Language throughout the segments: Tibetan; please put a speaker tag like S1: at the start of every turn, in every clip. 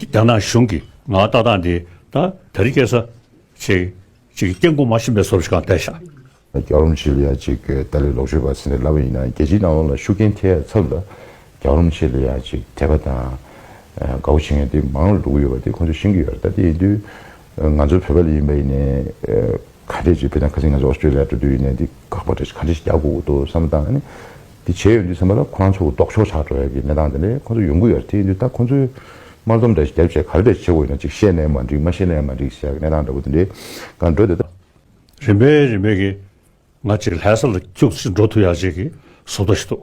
S1: རྒྱ་ནག་གཞུང་གིས་ང་ལྟ་སྟངས་དེ་ད་ད་རི་སྐྱེས་ས། ཆེ། ཅིག་སྐྱེ་དགུ་མ་ཤི་འབད་སོབ་ཤི་གང་བལྟས་ཤག། རྒྱ་རོམ་ཆེ་ལི་ཡ་
S2: ཅིག་ཏཱ་ལའི་ལོག་སྤྱོད་པ་ཟེར་ནས་ལབ་པ་ཡིན་ན་རྒྱལ་སྤྱིའི་སྣང་བ་ལ་ཤུགས་རྐྱེན་ཐེབས་ཡ་ཚབ་ལ། རྒྱ་རོམ་ཆེ་ལི་ཡ་ཅིག་དད་པ་དང། དགའ་བོ་བྱེད་མཁན་དེ་མང་ལ་འགྲོ་གི་ཡོད་པ་དེ་ཁོ་ཚོས་ཤེས་ཀྱི་ཡོད་རེད་ད་དེ་ཡིན་དུས། ང་ཚོ་བོད་པ་ལས་ཡིན་པ་ཡིན་ནའི། ཁ་བྲལ་བྱེད་ཕོད་ན་ཁ་སིང་ང་ཚོ་ཨོ་སི་ཀྲི་ལི་ཡ་འགྲོ་འདོད་ཡིན་ནའི་འདི་ཁག་པ་འདྲ་ཞིག་ག་འདྲ་ཞིག་རྒྱག་དགོས་ཀྱི་འདུག་བསམ་བློ་བཏང་ནས་ནི། འདི་བྱས་ཡོང་དུས་བསམ་པ་ལ་ཁོ་རང་ཚོ་ལྡོག་ཕྱོགས་ཆགས་འགྲོ་ཡག་གི་གནས་སྟངས་དེ་ནས་ཁོ་ཚོ་ཡོང་གི་ཡོད་རེད་དེ་ཡིན་དུས་ད་ཁོ་ཚོའི། དམར་ལྡོམ་འདྲ་ཞིག་རྒྱབ་བྱས་ག་རེ་འདྲ་བྱེད་དགོས་ཡོད་ན་ཅིག་བཤད་ནའི་མ་འགྲིག་མ་བཤད་ནའི་མ་འགྲིག་ཞེས་ཡག་གི་གནས་སྟངས་འདྲ་བོ་དེ་འདྲའི་སྒང་འགྲོ་འདོད་ད། རིམ་པས་རིམ་པས་ཀྱིས་ང་
S1: ཅིག་ལྷའི་ས་ལ་སྐྱུག་ཅིག་འགྲོ་ཐུབ་ཡག་ཅིག་གི་བཟོ་ལྟ་ཞིག་འདུག།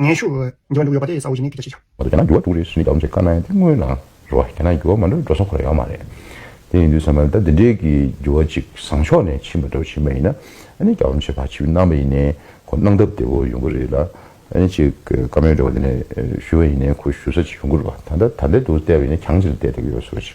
S3: ངན་ཤུགས། འགྱུར་བ་འགྲོ་གི་ཡོད་པ་དེ་གསལ་བོ་ཡིན་ནི་ཐུགས་རྗེ་ཆེ། བར་དུ་རྒྱ་
S2: ནག་འགྱུར་བ་འགྲོ་རེ་ཟུང་ཡིན་དང་འོན་ཀྱང་དཀའ་ན་དེ་སྔོན་ལ་འགྲོ་བ་རྒྱ་ནག་འགྱུར་བ་མ་འགྲོ་འགྲོ་སོང་ཁོ་ལ་ཡོད་མ་རེད། དེ་ཡིན་དུས་བསམ་པ་ད་འདི་འདྲའི་གི་འགྱུར་བ་ཅིག་བཟང་ཕྱོགས་ནས་ཕྱིན་པ་འགྲོ་བཞིན་པ་ཡིན་ན་ཨ་ནི་རྒྱ་བོ་མཆེད་ཕ་ཆེ་བས་གནང་བ་ཡིན་ནས་ཁོ་གནང་ཐབས་བདེ་བོ་ཡོང་གི་རེད་ལ་ཨ་ནི་ཅིག་བཀའ་མོལ་འགྲོ་བ་འདི་ནས་ཞུ་བ་ཡིན་ནས་ཁོ་ཞུ་ས་ཅིག་ཡོང་གི་རེད་བ་ད་ད་ལྟ་འདི་འདུག་བལྟས་པ་ཡིན་ན་གྱང་ཅིག་ལ་བལྟས་བསྡད་ཀྱི་ཡོད་ཟོ་བ་ཅིག་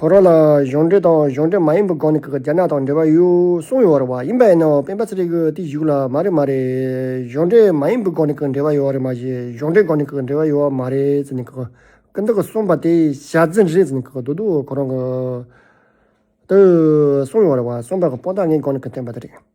S3: ཁོ་རང་ལ་གཞུང་འབྲེལ་དང་གཞུང་འབྲེལ་མ་ཡིན་པའི་སྒང་ནས་ཀྱི་རྒྱ་ནག་དང་འབྲེལ་བ་ཡོད་གསུངས་ཡོད་བ་ཡིན་པ་ཡིན་ནའོ་སྤེན་པ་ཚེ་རིང་གི་བསྟི་གཞུག་ལ་མ་རེད་མ་རེད་གཞུང་འབྲེལ་མ་ཡིན་པའི་སྒང་ནས་ཀྱི་འབྲེལ་བ་ཡོད་བ་རེད་མ་གཞི་གཞུང་འབྲེལ་སྒང་ནས་ཀྱི་འབྲེལ་བ་ཡོད་བ་མ་རེད་ཟེར་ནས་ཀྱི་ཀི་འདི་ཀྱི་གསུངས་པ་དེ་ཞལ་འཛིན་རེད་ཟེར་ནས་ཀྱི་འདུག་འདུག་ཁོ་རང་གི་འདི་གསུངས་ཡོད་བ་གསུངས་པ་ཀྱི་སྤོ་ལྟ་ངའི་སྒང་ནས་ཀྱི་བསྟན་པ་དེ་རེད།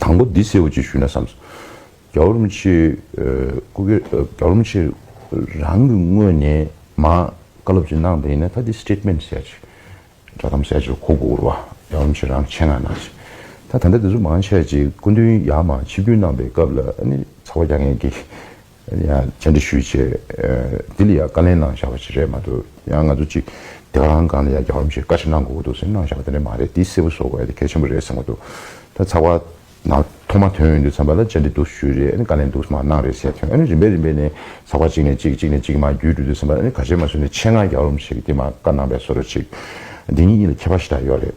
S2: དང་པོ་འདི་སེའུ་ཅེས་ཞུས་ན་བསམས་སོ། རྒྱ་བོར་མི་ཆེ། སྐུ་སྒེར་རྒྱ་བོར་མི་ཆེ། རང་གི་དངོས་ནས་མ། བཀའ་སློབ་ཅིག་གནང་དེ་ཡིན་ན་ད་འདི Statement བྱས་ཅིག། བསྒྲགས་གཏམ་བྱས་ཅིག་ཁོ་དགུ་བོར་བ་རྒྱ་བོར་མི་ཆེ་རང་ཆེད་མངགས་གནང་ཅིག། ད་ད་ལྟ་འདི་ཚོ་མང་ཆེ་ཅིག་སྐུ་མདུན་ཡར་མར་ཆིབས་བསྒྱུར་གནང་པའི་སྐབས་ལ་ནི་ཚ་བ་རྒྱག་མཁན་གྱི། ཡང་བཅར་འདྲི་ཞུས་རྗེས་འདི་ལ་ཡང་བཀའ་ལན་གནང་བཞག་པ་ཞིག་རེད་མ་གཏོགས་ཡང་ང་ཚོ་ཅིག་སྡེ་བ་རང་སྒང་ལ་ཡང་རྒྱ་གར་མི་ཞིག་བཀའ་ཁྲི་གནང་དགོས་ཀྱི་འདུག་ཟེར་གནང་བཞག་པ་དེ་འདྲ་མ་རེད་དེ་གསལ་པོ་བཟོ་དགོས་དེ་གལ་ཆེན་པོ་རེད་ཟེར་མ་འདུག་ད་ཚགས་པར་ནང་ཐོག་མ་དོན་ཡོད་འདུག་བསམ་པ་ལ་བཅར་འདྲི་འདུག་ཞུས་རེད་ཨ་ནི་བཀའ་ལན་འདུག་མ་གནང་རེད་ཟེར་དོན་ཨ་ནི་རིམ་པས་རིམ་པས་ནས་ཚགས་པར་གཅིག་ནས་གཅིག་གཅིག་ནས་གཅིག་མ་བརྒྱུད་འགྲོ་འདུག་བསམ་པ་ལ་ཨ་ནི་ག་བྱེད་མ་ཟོས་ནས་ཆེད་མངགས་རྒྱ་གར་བ་མི་ཞིག་གིས་དེ་མ་བཀའ་གནང་པས་བཟོ་རོགས་ཅིག་འདི་གཉིས་གཉིས་ལ་ཁྱད་པར་ཞིག་ད་ཡོད་རེད།